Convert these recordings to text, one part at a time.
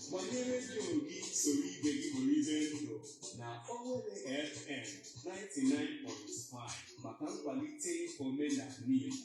Gbanye redio gị soro ibe gị bụrụ ibe ndụ na Owelle FM 99.5 maka nkwalite omenala Igbo.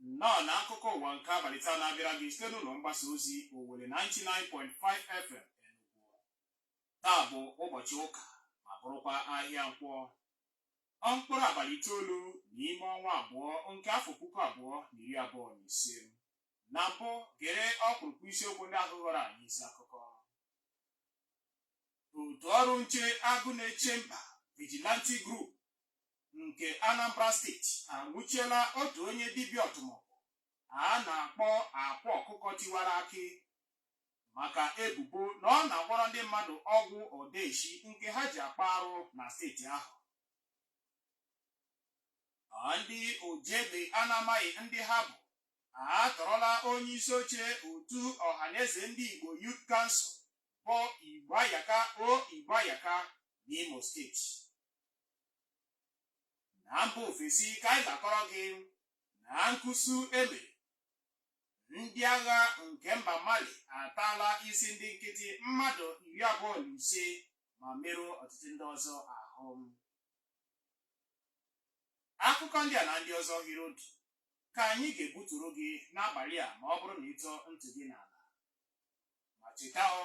nnọọ na akụkọ ụwa nke abalị taa na-abịara gị site n'ụlọ mgbasa ozi Owelle 99.5 FM Enugu taa bụ ụbọchị ụka ma bụrụkwa ahịa nkwọ mkpụrụ abalị itoolu n'ime ọnwa abụọ nke afọ puku abụọ na iri abụọ na ise na mbụ gere ọkpụrụkpụ isiokwu ndị ahụ ghọrọ anyị isi akụkọ otu ọrụ nche agụ na-eche mba vigilante group nke Anambra steeti anwụchiela otu onye dibịa ọtụmọkpọ a na-akpọ akwa ọkụkọ tiwara akị maka ebubo na ọ na-agwọrọ ndị mmadụ ọgwụ odeshi nke ha ji akpa arụ na steeti ahụ ndị oji egbe a na-amaghị ndị ha bụ atọrọla onye isi oche otu ọhaneze ndị Igbo Youth Council bụ Igboayaka O Igboayaka n'Imo steeti na mba ofesi ka anyị ga-akọrọ gị na nkụsu e mere ndị agha nke mba mali ataala isi ndị nkịtị mmadụ iri abụọ na ise ma merụọ ọtụtụ ndị ọzọ ahụ akụkọ ndị a na ndị ọzọ hiri otu ka anyị ga-ebuturu gị n'abalị a ma ọ bụrụ na ị tọọ ntị gị n'ala ma cheta ọ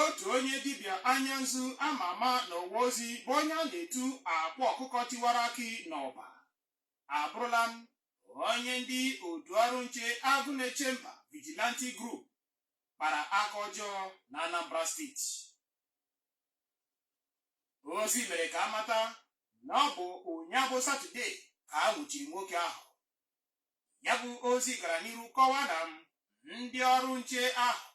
otu onye dibịa anya nzu a ma ama n'ọwa ozi bụ onye a na-etu akwa ọkụkọ tiwara akị n'Ọba abụrụla m onye ndị otu ọrụ nche agụ na-eche mba vigilante group kpara aka ọjọọ na anambra steeti ozi mere ka a mata na ọ bụ ụnyaahụ satọde ka a nwụchiri nwoke ahụ ya bụ ozi gara n'iru kọwaa na m ndị ọrụ nche ahụ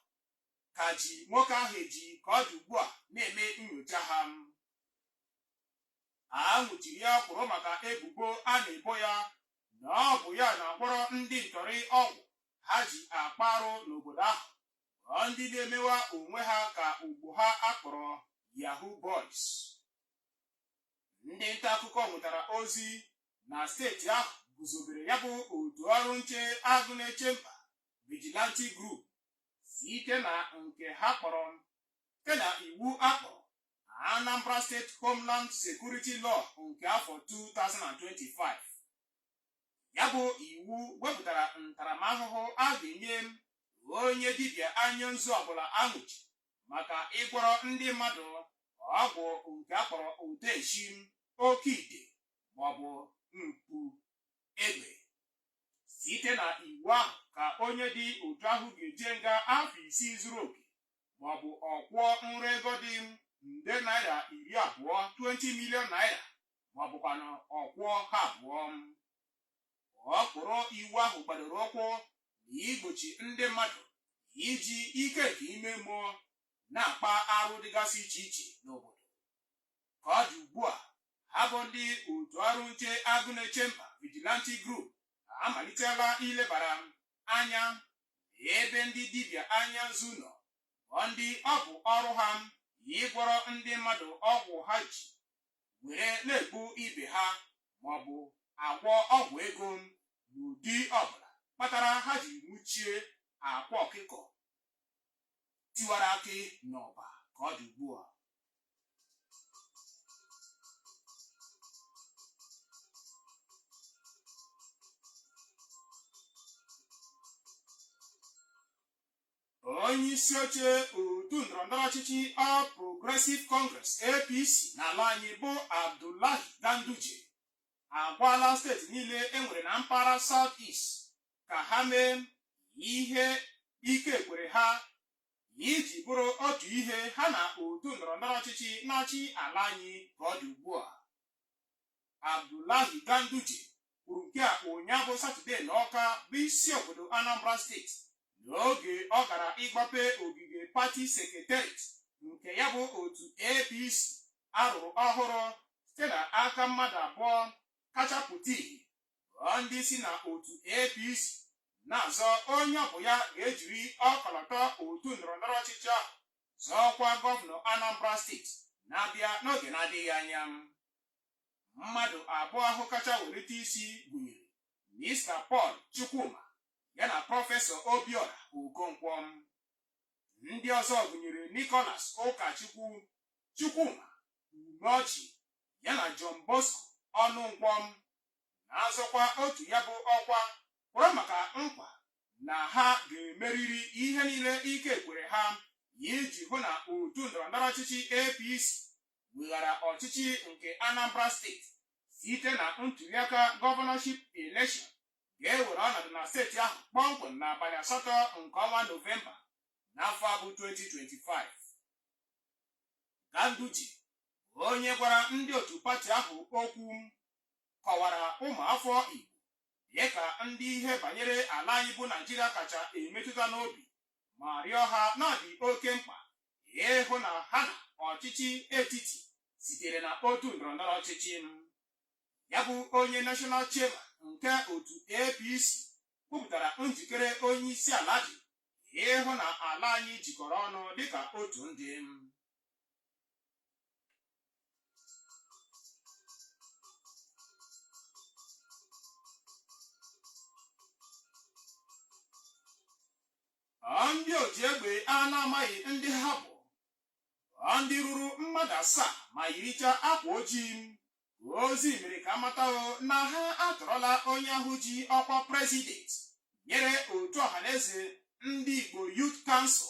ka ji nwoke ahụ eji ka ọ dị ugbu a na-eme nyocha ha a nwụchiri ya kpụrụ maka ebubo a na-ebo ya na ọ bụ ya na-agwọrọ ndị ntọrị ọgwụ ha ji akpa arụ n'obodo ahụ ọ ndị na-emewa onwe ha ka ugbo ha a kpọrọ Yahoo Boys ndị nta akụkọ nwetara ozi na steeti ahụ guzobere ya bụ otu ọrụ nche agụ na-eche mba vigilante group site na nke ha kpọrọ site na iwu a kpọrọ Anambra State Homeland Security Law nke afọ 2025 ya bụ iwu wepụtara ntaramahụhụ a ga-enye onye dibịa anya nzu ọbụla a nwụchi maka ịgwọrọ ndị mmadụ ọgwụ nke a kpọrọ odeshi oke ite maọbụ mkpu egbe site na iwu ahụ ka onye dị otu ahụ ga-eje nga afọ isii zuru oke maọbụ ọ kwụọ nra ego dị nde naira iri abụọ 20 million naira maọbụkwanụ ọ kwụọ ha abụọ ọkpụrụ iwu ahụ gbadoro ụkwụ na igbochi ndị mmadụ iji ike nke ime mmụọ na-akpa arụ dịgasị iche iche n'obodo ka ọ dị ugbu a ha bụ ndị otu ọrụ nche Agụnechemba Vigilante Group amalitela ilebara anya ebe ndị dibịa anya nzu nọ ọ ndị ọ bụ ọrụ ha ịgwọrọ ndị mmadụ ọgwụ ha ji were na-egbu ibe ha maọbụ agwọ ọgwụ ego n'ụdị ọbụla kpatara ha ji nwụchie Akwa Ọkụkọ Tiwara Akị n'Ọba ka ọ dị ugbu a onye isi oche otu ndọrọndọrọ ọchịchị All Progressive Congress APC n'ala anyị bụ Abdullahi Ganduje agwaala steeti niile e nwere na mpaghara South East ka ha mee ihe ike kwere ha iji bụrụ otu ihe ha na otu ndọrọndọrọ ọchịchị na-achị ala anyị ka ọ dị ugbu a Abdullahi Ganduje kwuru nke a ụnyaahụ Satọde na Ọka bụ isi obodo Anambra steeti n'oge ọ gara ịgbape ogige pati sekretariat nke ya bụ otu APC a rụrụ ọhụrụ site na aka mmadụ abụọ kacha pụta ihe ghọọ ndị isi na otu APC na-azọ onye ọ bụ ya ga-ejiri ọkọlọtọ otu ndọrọndọrọ ọchịchị ahụ zọọ ọkwa gọvanọ Anambra steeti na-abịa n'oge na-adịghị anya mmadụ abụọ ahụ kacha welite isi gụnyere Mista Paul Chukwuma ya na prọfesọ Obiora Okonkwo ndị ọzọ gụnyere Nicholas Ụkachukwu Chukwuma Umeoji ya na John Bosco Ọnụnkwọ na-azọkwa otu ya bụ ọkwa kwuru maka nkwa na ha ga-emeriri ihe niile ike kwere ha iji hụ na otu ndọrọndọrọ ọchịchị APC weghara ọchịchị nke Anambra steeti site na ntuliaka gọvanọship elekshọn ga-ewere ọnọdụ na steeti ahụ kpọmkwem n'abalị asatọ nke ọnwa Nọvemba n'afọ a bụ 2025. Ganduje onye gwara ndị otu pati ahụ okwu kọwara ụmụafọ Igbo dịka ndị ihe banyere ala anyị bụ Naijiria kacha emetụta n'obi ma rịọ ha na ọ dị oke mkpa ịhụ na ha na ọchịchị etiti sitere na otu ndọrọndọrọ ọchịchị ya bụ onye National Chairman nke otu APC kwupụtara njikere onye isi ala dị ịhụ na ala anyị jikọrọ ọnụ dịka otu ndị ndị oji egbe a na-amaghị ndị ha bụ ndị ruru mmadụ asaa ma yiricha akwa ojii ozi mere ka a mata na ha atọrọla onye ahụ ji ọkwa prezident nyere otu Ọhanaeze Ndị Igbo Youth Council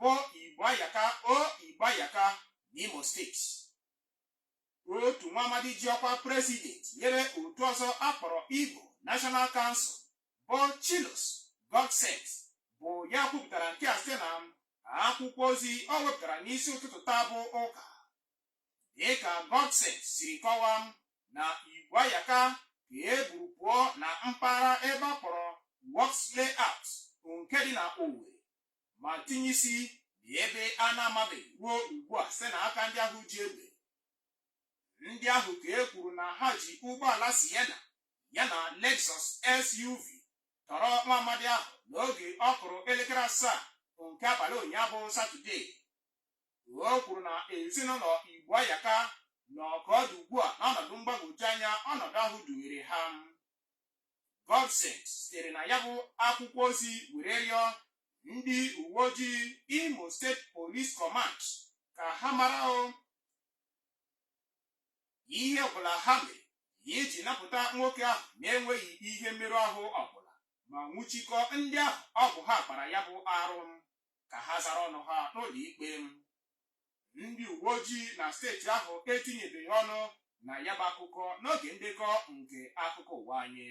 bụ Igboayaka O Igboayaka n'Imo steeti otu nwa amadi ji ọkwa prezident nyere otu ọzọ a kpọrọ Igbo National Council bụ Chilos Godsent bụ ya kwupụtara nke a site na akwụkwọ ozi o wepụtara n'isi ụtụtụ taa bụ ụka dịka Godsent siri kọwaa na Igboayaka ka e buru pụọ na mpaghara ebe a kpọrọ Works Layout nke dị na Owerri ma tinye isi na ebe a na-amabeghị ruo ugbu a site na aka ndị ahụ ji egbe ndị ahụ ka e kwuru na ha ji ụgbọala Sienna ya na Lexus SUV tọrọ nwa amadi ahụ n'oge ọ kụrụ elekere asaa nke abalị ụnyaahụ Satọdee O kwuru na ezinụlọ Igboayaka nọ ka ọ dị ugbu a n'ọnọdụ mgbagwoju anya ọnọdụ ahụ dunyere ha. Godsent sitere na ya bụ akwụkwọ ozi were rịọ ndị uwe ojii Imo State Police Command ka ha mara o ihe ọbụla ha mere iji napụta nwoke ahụ na-enweghị ihe mmerụ ahụ ọbụla ma nwụchikọ ndị ahụ ọ bụ ha kpara ya bụ arụ ka ha zara ọnụ ha n'ụlọ ikpe ndị uwe ojii na steeti ahụ etinyebeghị ọnụ na ya bụ akụkọ n'oge ndekọ nke akụkọ ụwa anyị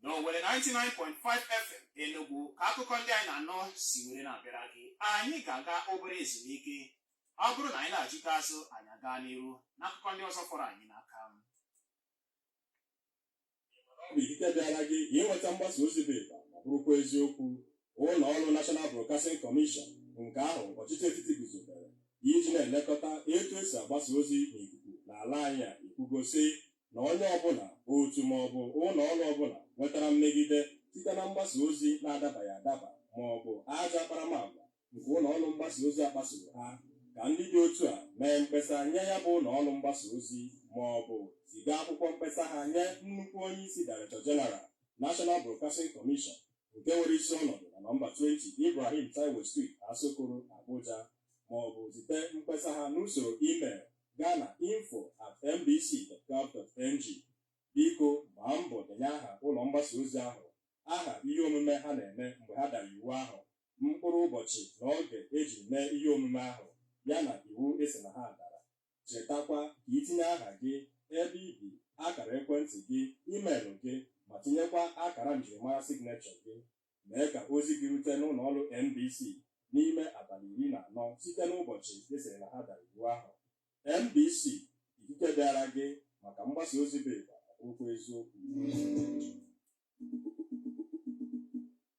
n'Owelle 99.5 FM Enugu ka akụkọ ndị a ị na-anụ si were na-abịara gị anyị ga-aga obere ezumike ọ bụrụ na anyị naghachita azụ anyị agaa n'iru n'akụkọ ndị ọzọ fọrọ anyị n'aka ọ bụ ikike dịịrị gị inweta mgbasa ozi bụ ịgba ma bụrụkwa eziokwu ụlọ ọrụ National Broadcasting Commission nke ahụ ọchịchị etiti guzobere iji na-elekọta etu esi agbasa ozi n'ikuku n'ala anyị a ekwugo sị na onye ọbụla otu ma ọ bụ ụlọ ọrụ ọbụla nwetara mmegide site na mgbasa ozi na-adabaghị adaba ma ọ bụ ajọ akparamagwa nke ụlọ ọrụ mgbasa ozi kpasoro ha ka ndị dị otu a mee mkpesa nye ya bụ ụlọ ọrụ mgbasa ozi ma ọ bụ ziga akwụkwọ mkpesa ha nye nnukwu onye isi Director General National Broadcasting Commission nke nwere isi ọnọdụ na nọmba 20 Ibrahim Taiwo Street Asokoro Abuja ma ọ bụ zite mkpesa ha n'usoro email gaa na info at nbc.gov.ng biko gbaa mbọ denye aha ụlọ mgbasa ozi ahụ aha ihe omume ha na-eme mgbe ha dara iwu ahụ mkpụrụ ụbọchị na oge eji mee ihe omume ahụ yana iwu esi na ha dara. Chetakwa ka itinye aha gị, ebe i bi, akara ekwentị gị, email gị ma tinyekwa akara njirimara signature gị. Mee ka ozi gị rute n'ụlọ ọrụ NBC n'ime abalị iri na anọ site n'ụbọchị esiri na ha dara iwu ahụ. NBC, ikike dịịrị gị maka mgbasa ozi bụ ịgba okwu eziokwu.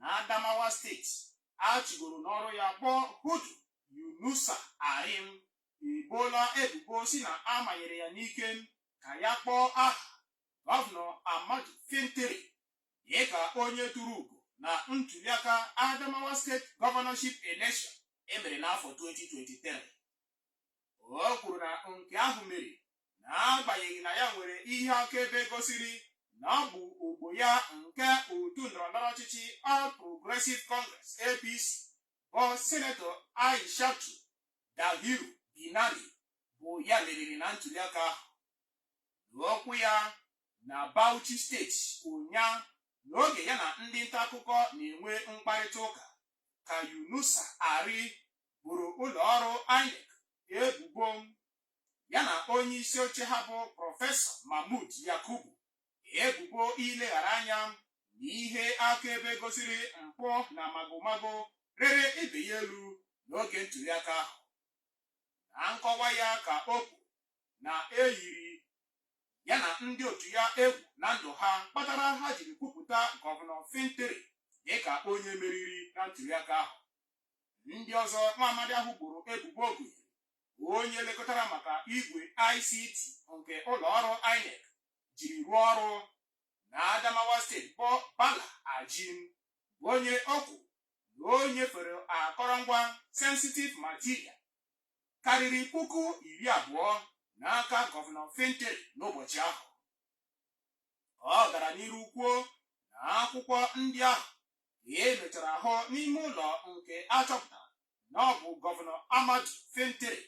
na Adamawa steeti a chụgoro n'ọrụ ya bụ Hudu Yunusa Ari eboola ebubo si na a manyere ya n'ike ka ya kpọọ aha gọvanọ Ahmadu Fintiri dịka onye turu ugo na ntuliaka Adamawa State governorship election emere n'afọ 2023. o kwuru na nke ahụ mere n'agbanyeghị na ya nwere ihe akaebe gosiri na ọ bụ ogbo ya nke otu ndọrọndọrọ ọchịchị All Progressive Congress APC bụ sinetọ Aishatu Dahiru Binani bụ ya meriri na ntuliaka ahụ n'okwu ya na Bauchi steeti ụnyaahụ n'oge ya na ndị nta akụkọ na-enwe mkparịta ụka ka Yunusa Ari boro ụlọ ọrụ INEC ebubo ya na onye isi oche ha bụ prọfesọ Mahmood Yakubu ebubo ileghara anya na ihe akaebe gosiri mpụ na magomago rịrị ibe ya elu n'oge ntuliaka ahụ na nkọwa ya ka o kwuru na eyiri ya na ndị otu ya egwu na ndụ ha kpatara ha jiri kwupụta gọvanọ Fintiri dịka onye meriri na ntuliaka ahụ ndị ọzọ nwa amadi ahụ boro ebubo gụnyere onye lekọtara maka igwe ICT nke ụlọ ọrụ INEC jiri rụọ ọrụ na Adamawa steeti bụ Bala Aji bụ onye o kwuru na o nyefere akọrọngwa sensitive material karịrị puku iri abụọ n'aka gọvanọ Fintiri n'ụbọchị ahụ ọ gara n'iru kwuo na akwụkwọ ndị ahụ ka e mechara hụ n'ime ụlọ nke a chọpụtara na ọ bụ gọvanọ Ahmadu Fintiri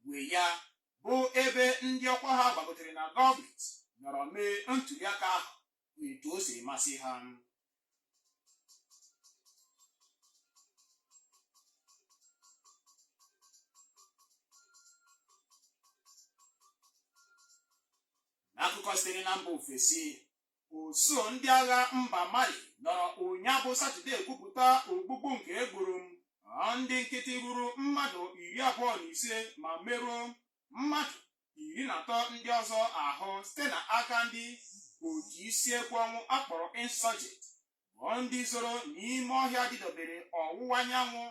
nwe ya bụ ebe ndị ọkwa ha gbagotere na gọọmenti nọrọ mee ntuliaka ahụ etu o siri masị ha n'akụkọ sitere na mba ofesi usuu ndị agha mba Mali nọrọ ụnyaahụ bụ Satọdee kwupụta ogbugbu nke e gburu ndị nkịtị ruru mmadụ iri abụọ na ise ma merụọ mmadụ iri na atọ ndị ọzọ ahụ site na aka ndị otu isi ekwe ọnwụ a kpọrọ insurgent bụ ndị zoro n'ime ọhịa dịdobere ọwụwa anyanwụ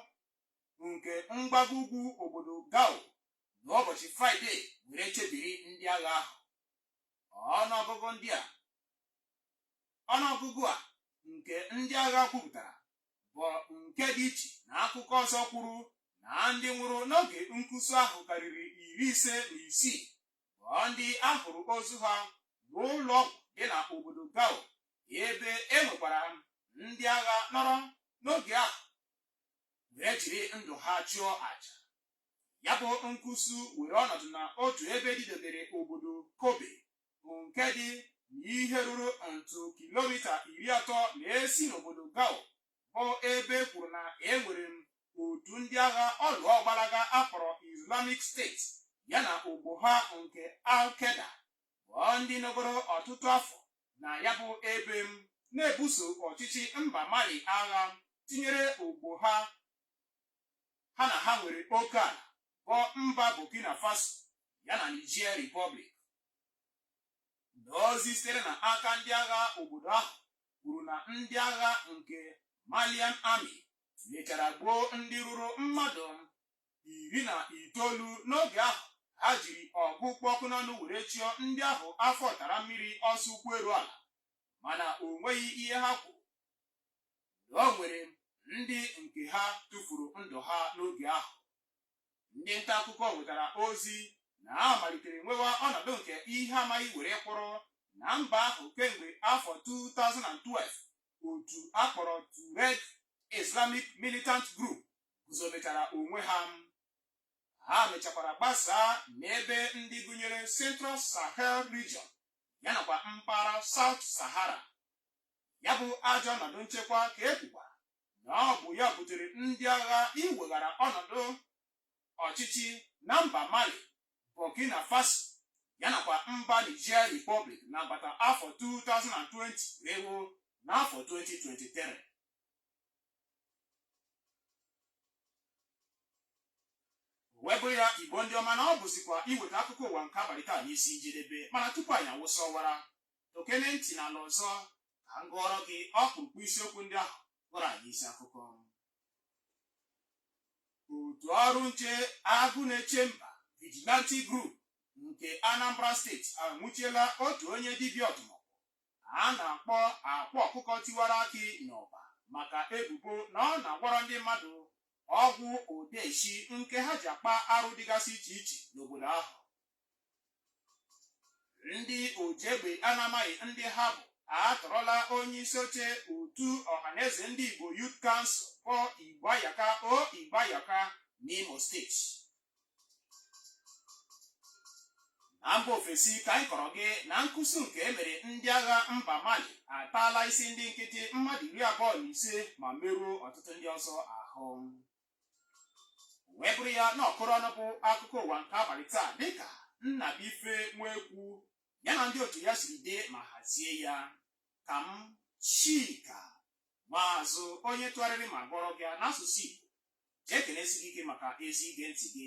nke mgbago ugwu obodo Gao n'ụbọchị Fraịde were chebiri ndị agha ahụ ọnụọgụgụ ndị a ọnụọgụgụ a nke ndị agha kwupụtara bụ nke dị iche na akụkọ ọzọ kwuru na ndị nwụrụ n'oge nkwụsị ahụ karịrị iri ise na isii bụ ndị a hụrụ ozu ha n'ụlọ ọgwụ dị na obodo Gao ebe e nwekwara ndị agha nọrọ n'oge ahụ wee jiri ndụ ha chụọ aja ya bụ nkwụsị were ọnọdụ na otu ebe dịdebere obodo Kobe bụ nke dị n'ihe ruru ntụ kilomita iri atọ na-esi n'obodo Gao bụ ebe e kwuru na e nwere m otu ndị agha ọlụọ ọgbalaga a kpọrọ Islamic State ya na ogbo ha nke Al-Qaeda bụ ndị nọgoro ọtụtụ afọ na ya bụ ebe m na-ebuso ọchịchị mba Mali agha tinyere ogbo ha ha na ha nwere oke ala bụ mba Burkina Faso ya na Niger Republic n'ozi sitere na aka ndị agha obodo ahụ kwuru na ndị agha nke Malian Army mechara gbuo ndị ruru mmadụ iri na itoolu n'oge ahụ ha jiri ọgụ kpụ ọkụ n'ọnụ were chụọ ndị ahụ afọ tara mmiri ọsọ ụkwụ eru ala mana o nweghị ihe ha kwuru na o nwere ndị nke ha tụfuru ndụ ha n'oge ahụ ndị nta akụkọ nwetara ozi na a malitere nwewa ọnọdụ nke ihe amaghị were kwụrụ na mba ahụ kemgbe afọ 2012 otu a kpọrọ Tuareg Islamic Militant Group guzobetara onwe ha ha mechakwara gbasaa n'ebe ndị gụnyere Central Sahel Region ya nakwa mpaghara South Sahara ya bụ ajọ ọnọdụ nchekwa ka e kwukwara na ọ bụ ya butere ndị agha iweghara ọnọdụ ọchịchị na mba mali burkina faso ya nakwa mba niger republic n'agbata afọ 2020 wee ruo n'afọ 2023 wee bụ ya igbo ndị ọma na ọ bụzikwa iweta akụkọ ụwa nke abalị taa n'isi njedebe mana tupu anyị awụsa ọwara tọkene ntị n'ala ọzọ ka m gụọrọ gị ọkpụrụkpụ isiokwu ndị ahụ kpọrọ anyị isi akụkọ otu ọrụ nche agụ na-eche mba vigilante group nke anambra steeti anwụchiela otu onye dibịa ọdụmọgwụ a na-akpọ akwa ọkụkọ tiwara akị n'ọba maka ebubo na ọ na-agwọrọ ndị mmadụ ọgwụ odeshi nke ha ji akpa arụ dịgasị iche iche n'obodo ahụ ndị oji egbe a na-amaghị ndị ha bụ atọrọla onye isi oche otu ọhaneze ndị igbo youth council bụ igboayaka o igboayaka n'imo steeti na mba ofesi ka anyị kọrọ gị na nkusu nke e mere ndị agha mba mali ataala isi ndị nkịtị mmadụ iri abụọ na ise ma merụọ ọtụtụ ndị ọzọ ahụ wee bụrụ ya na ọ kụrụ ọnụ bụ akụkọ ụwa nke abalị taa dịka Nnabuife Nwekwu ya na ndị otu ya siri dee ma hazie ya ka m Chika Maazụ onye tụgharịrị ma gụọrọ gị n'asụsụ Igbo ji ekelesi gị ike maka ezi ige ntị gị